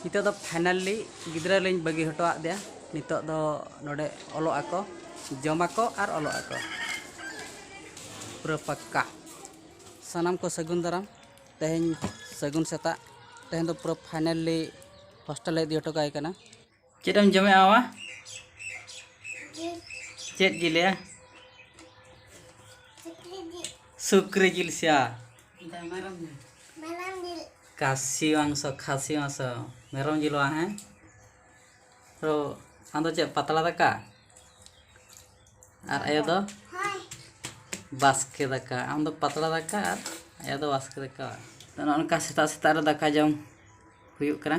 ᱱᱤᱛᱚᱜ ᱫᱚ ᱯᱷᱟᱭᱱᱟᱞᱤ ᱜᱤᱫᱽᱨᱟᱹ ᱞᱤᱧ ᱵᱟᱹᱜᱤ ᱦᱚᱴᱚ ᱟᱫᱮᱭᱟ ᱱᱤᱛᱚᱜ ᱫᱚ ᱱᱚᱰᱮ ᱚᱞᱚᱜ ᱟᱠᱚ ᱡᱚᱢ ᱟᱠᱚ ᱟᱨ ᱚᱞᱚᱜ ᱟᱠᱚ ᱯᱩᱨᱟᱹ ᱯᱟᱠᱠᱟ ᱥᱟᱱᱟᱢ ᱠᱚ ᱥᱟᱹᱜᱩᱱ ᱫᱟᱨᱟᱢ ᱛᱮᱦᱮᱧ ᱥᱟᱹᱜᱩᱱ ᱥᱮᱛᱟᱜ ᱛᱮᱦᱮᱧ ᱫᱚ ᱯᱩᱨᱟᱹ ᱯᱷᱟᱭᱱᱟᱞᱤ ᱦᱳᱥᱴᱮᱞ ᱞᱮ ᱤᱫᱤ ᱦᱚᱴᱚ ᱠᱟᱭ ᱠᱟᱱᱟ ᱪᱮᱫ ᱮᱢ ᱡᱚᱢᱮᱜᱼᱟ ᱵᱟᱵᱟ ᱪᱮᱫ ᱡᱤᱞ ᱭᱟ ᱥᱩᱠᱨᱤ ᱡᱤᱞ ᱥᱮᱭᱟ ᱠᱟᱥᱤ ᱢᱟᱝᱥᱚ ᱠᱷᱟᱥᱤ ᱢᱟᱝᱥᱚ ᱢᱮᱨᱚᱢ ᱡᱤᱞ ᱵᱟᱝ ᱦᱮᱸ ᱛᱚ ᱟᱢᱫᱚ ᱪᱮᱫ ᱯᱟᱛᱲᱟ ᱫᱟᱠᱟ ᱟᱨ ᱟᱭᱳ ᱫᱚ ᱵᱟᱥᱠᱮ ᱫᱟᱠᱟ ᱟᱢ ᱫᱚ ᱯᱟᱛᱲᱟ ᱫᱟᱠᱟ ᱟᱨ ᱟᱭᱳ ᱫᱚ ᱵᱟᱥᱠᱮ ᱫᱟᱠᱟ ᱛᱚ ᱱᱚᱜᱼᱚ ᱱᱚᱝᱠᱟ ᱥᱮᱛᱟᱜ ᱥᱮᱛᱟᱜ ᱨᱮ ᱫᱟᱠᱟ ᱡᱚᱢ ᱦᱩᱭᱩᱜ ᱠᱟᱱᱟ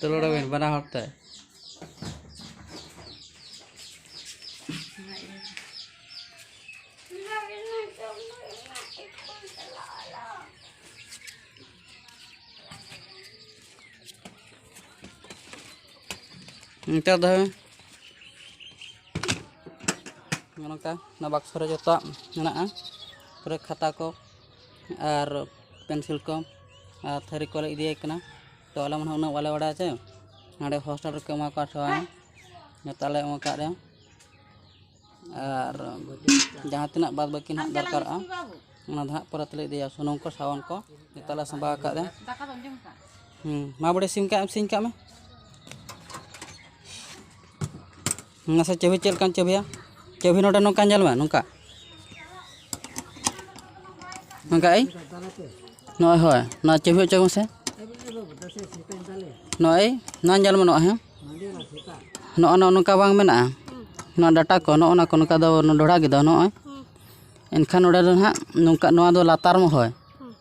ᱛᱩᱞᱟᱹᱲᱟᱵᱤᱱ ᱵᱟᱱᱟ ᱦᱚᱲ ᱛᱮ ᱱᱤᱛᱚᱜ ᱫᱚ ᱱᱚᱝᱠᱟ ᱚᱱᱟ ᱵᱟᱠᱥᱚ ᱨᱮ ᱡᱚᱛᱚᱣᱟᱜ ᱢᱮᱱᱟᱜᱼᱟ ᱯᱩᱨᱟᱹ ᱠᱷᱟᱛᱟ ᱠᱚ ᱟᱨ ᱯᱮᱱᱥᱤᱞ ᱠᱚ ᱟᱨ ᱛᱷᱟᱹᱨᱤ ᱠᱚᱞᱮ ᱤᱫᱤᱭᱟᱭ ᱠᱟᱱᱟ ᱛᱚ ᱟᱞᱮ ᱢᱟᱱᱮ ᱩᱱᱟᱹᱜ ᱵᱟᱞᱮ ᱵᱟᱲᱟᱭᱟ ᱥᱮ ᱱᱚᱰᱮ ᱦᱳᱥᱴᱮᱞ ᱨᱮᱠᱚ ᱮᱢᱟ ᱠᱚᱣᱟ ᱥᱮ ᱵᱟᱝ ᱡᱚᱛᱚ ᱟᱞᱮ ᱮᱢ ᱟᱠᱟᱫ ᱨᱮ ᱟᱨ ᱡᱟᱦᱟᱸ ᱛᱤᱱᱟᱹᱜ ᱵᱟᱫᱽ ᱵᱟᱹᱠᱤ ᱱᱟᱦᱟᱜ ᱫᱚᱨᱠᱟᱨᱚᱜᱼᱟ ᱚᱱᱟ ᱫᱚ ᱦᱟᱸᱜ ᱯᱚᱨᱮ ᱛᱮᱞᱮ ᱤᱫᱤᱭᱟ ᱥᱩᱱᱩᱢ ᱠᱚ ᱥᱟᱵᱚᱱ ᱠᱚ ᱡᱚᱛᱚ ᱞᱮ ᱥᱟᱸᱵᱟᱣ ᱟᱠᱟᱫ ᱨᱮ ᱦᱮᱸ ᱢᱟ ᱵᱚᱰᱮ ᱥᱤᱧ ᱠᱟᱜ ᱮᱢ ᱥᱤᱧ ᱠᱟᱜ ᱢᱮ ᱢᱟᱥᱮ ᱪᱟᱹᱵᱷᱤ ᱪᱮᱫ ᱞᱮᱠᱟᱱ ᱪᱟᱹᱵᱷᱤᱭᱟ ᱪᱟᱹᱵᱷᱤ ᱱᱚᱰᱮ ᱱᱚᱝᱠᱟ ᱧᱮᱞ ᱢᱮ ᱱᱚᱝᱠᱟ ᱱᱚᱝᱠᱟ ᱟᱭ ᱱᱚᱜᱼᱚᱭ ᱦᱳᱭ ᱱᱚᱣᱟ ᱪᱟᱹᱵᱷᱤ ᱦᱚᱪᱚᱭ ᱢᱮᱥᱮ ᱱᱚᱜᱼᱚᱭ ᱱᱚᱣᱟ ᱧᱮᱞ ᱢᱮ ᱱᱚᱜᱼᱚᱭ ᱦᱮᱸ ᱱᱚᱜᱼᱚ ᱱᱚᱜᱼᱚ ᱱᱚᱝᱠᱟ ᱵᱟᱝ ᱢᱮᱱᱟᱜᱼᱟ ᱱᱚᱣᱟ ᱰᱟᱴᱟ ᱠᱚ ᱱᱚᱜᱼᱚ ᱱᱚᱣᱟ ᱠᱚ ᱱᱚᱝᱠᱟ ᱫᱚ ᱰᱚᱰᱷᱟ ᱜᱮᱫᱚ ᱱᱚᱜᱼᱚᱭ ᱮᱱᱠᱷᱟᱱ ᱱᱚᱰᱮ ᱫᱚ ᱦᱟᱸᱜ ᱱᱚᱝᱠᱟ ᱱᱚᱣᱟ ᱫᱚ ᱞᱟᱛᱟᱨ ᱢᱮ ᱦᱳᱭ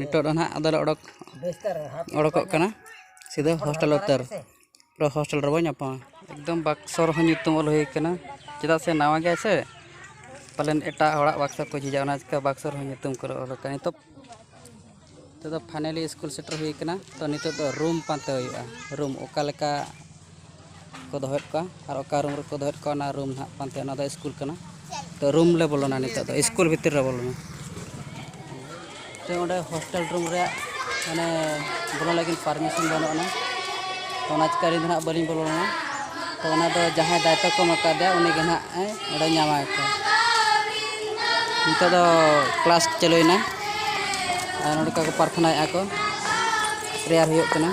ᱱᱤᱛᱚᱜ ᱫᱚ ᱱᱟᱦᱟᱜ ᱟᱫᱚᱞᱮ ᱚᱰᱚᱠ ᱚᱰᱚᱠᱚᱜ ᱠᱟᱱᱟ ᱥᱤᱫᱷᱟᱹ ᱦᱳᱥᱴᱮᱞ ᱩᱛᱟᱹᱨ ᱦᱳᱥᱴᱮᱞ ᱨᱮᱵᱚᱱ ᱧᱟᱯᱟᱢᱟ ᱮᱠᱫᱚᱢ ᱵᱟᱠᱥᱚ ᱨᱮᱦᱚᱸ ᱧᱩᱛᱩᱢ ᱚᱞ ᱦᱩᱭ ᱠᱟᱱᱟ ᱪᱮᱫᱟᱜ ᱥᱮ ᱱᱟᱣᱟ ᱜᱮᱭᱟᱭ ᱥᱮ ᱯᱟᱞᱮᱱ ᱮᱴᱟᱜ ᱦᱚᱲᱟᱜ ᱵᱟᱠᱥᱚ ᱠᱚ ᱡᱷᱤᱡᱟ ᱚᱱᱟ ᱪᱤᱠᱟᱹ ᱵᱟᱠᱥᱚ ᱨᱮᱦᱚᱸ ᱧᱩᱛᱩᱢ ᱠᱚᱞᱮ ᱚᱞ ᱠᱟᱜᱼᱟ ᱱᱤᱛᱚᱜ ᱱᱤᱛᱚᱜ ᱫᱚ ᱯᱷᱟᱭᱱᱟᱞᱤ ᱥᱠᱩᱞ ᱥᱮᱴᱮᱨ ᱦᱩᱭ ᱠᱟᱱᱟ ᱛᱚ ᱱᱤᱛᱚᱜ ᱫᱚ ᱨᱩᱢ ᱯᱟᱱᱛᱮ ᱦᱩᱭᱩᱜᱼᱟ ᱨᱩᱢ ᱚᱠᱟ ᱞᱮᱠᱟ ᱠᱚ ᱫᱚᱦᱚᱭᱮᱫ ᱠᱚᱣᱟ ᱟᱨ ᱚᱠᱟ ᱨᱩᱢ ᱨᱮᱠᱚ ᱫᱚᱦᱚᱭᱮᱫ ᱠᱚᱣᱟ ᱚᱱᱟ ᱨᱩᱢ ᱦᱟᱸᱜ ᱯᱟᱱᱛᱮ ᱚᱱᱟ ᱫᱚ ᱥᱠᱩᱞ ᱠᱟᱱᱟ ᱛᱚ ᱨᱩᱢ ᱞᱮ ᱵᱚᱞᱚᱱᱟ ᱱᱤᱛᱚᱜ ᱫᱚ ᱥᱠᱩᱞ ᱵᱷᱤᱛᱤᱨ ᱨᱮ ᱵᱚᱞᱚᱱᱟ ᱛᱚ ᱚᱸᱰᱮ ᱦᱳᱥᱴᱮᱞ ᱨᱩᱢ ᱨᱮᱭᱟᱜ ᱢᱟᱱᱮ ᱵᱚᱞᱚ ᱞᱟᱹᱜᱤᱫ ᱯᱟᱨᱢᱤᱥᱚᱱ ᱵᱟᱹᱱᱩᱜ ᱟᱱᱟ ᱛᱚ ᱚᱱᱟ ᱪᱤᱠᱟᱹ ᱟᱹᱞᱤᱧ ᱫᱚ ᱦᱟᱸᱜ ᱵᱟᱹᱞᱤᱧ ᱵᱚᱞᱚ ᱞᱮᱱᱟ ᱛᱚ ᱚᱱᱟ ᱫᱚ ᱡᱟᱦᱟᱸᱭ ᱫᱟᱭᱤᱛᱛᱚ ᱠᱚ ᱮᱢ ᱟᱠᱟᱫᱮᱭᱟ ᱩᱱᱤ ᱜᱮ ᱦᱟᱸᱜ ᱮ ᱚᱸᱰᱮ ᱧᱟᱢᱟ ᱠᱚ ᱱᱤᱛᱚᱜ ᱫᱚ ᱠᱞᱟᱥ ᱪᱟᱹᱞᱩᱭᱮᱱᱟ ᱟᱨ ᱱᱚᱰᱮ ᱠᱚ ᱯᱨᱟᱨᱛᱷᱚᱱᱟᱭᱮᱫᱼᱟ ᱠᱚ ᱯᱨᱮᱭᱟᱨ ᱦᱩᱭᱩᱜ ᱠᱟᱱᱟ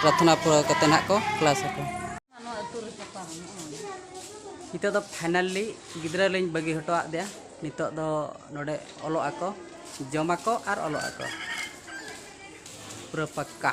ᱯᱨᱟᱨᱛᱷᱚᱱᱟ ᱯᱩᱨᱟᱹᱣ ᱠᱟᱛᱮᱫ ᱱᱟᱦᱟᱜ ᱠᱚ ᱠᱞᱟᱥ ᱟᱠᱚ ᱱᱤᱛᱚᱜ ᱫᱚ ᱯᱷᱟᱭᱱᱟᱞᱤ ᱜᱤᱫᱽᱨᱟᱹ ᱞᱤᱧ ᱵᱟᱹᱜᱤ ᱦᱚᱴᱚ ᱟᱫᱮᱭᱟ ᱱᱤᱛᱚᱜ ᱫᱚ ᱱᱚᱰᱮ ᱚᱞᱚᱜ ᱟᱠᱚ ᱡᱚᱢᱟᱠᱚ ᱟᱨ ᱚᱞᱚᱜ ᱟᱠᱚ ᱯᱩᱨᱟᱹ ᱯᱟᱠᱠᱟ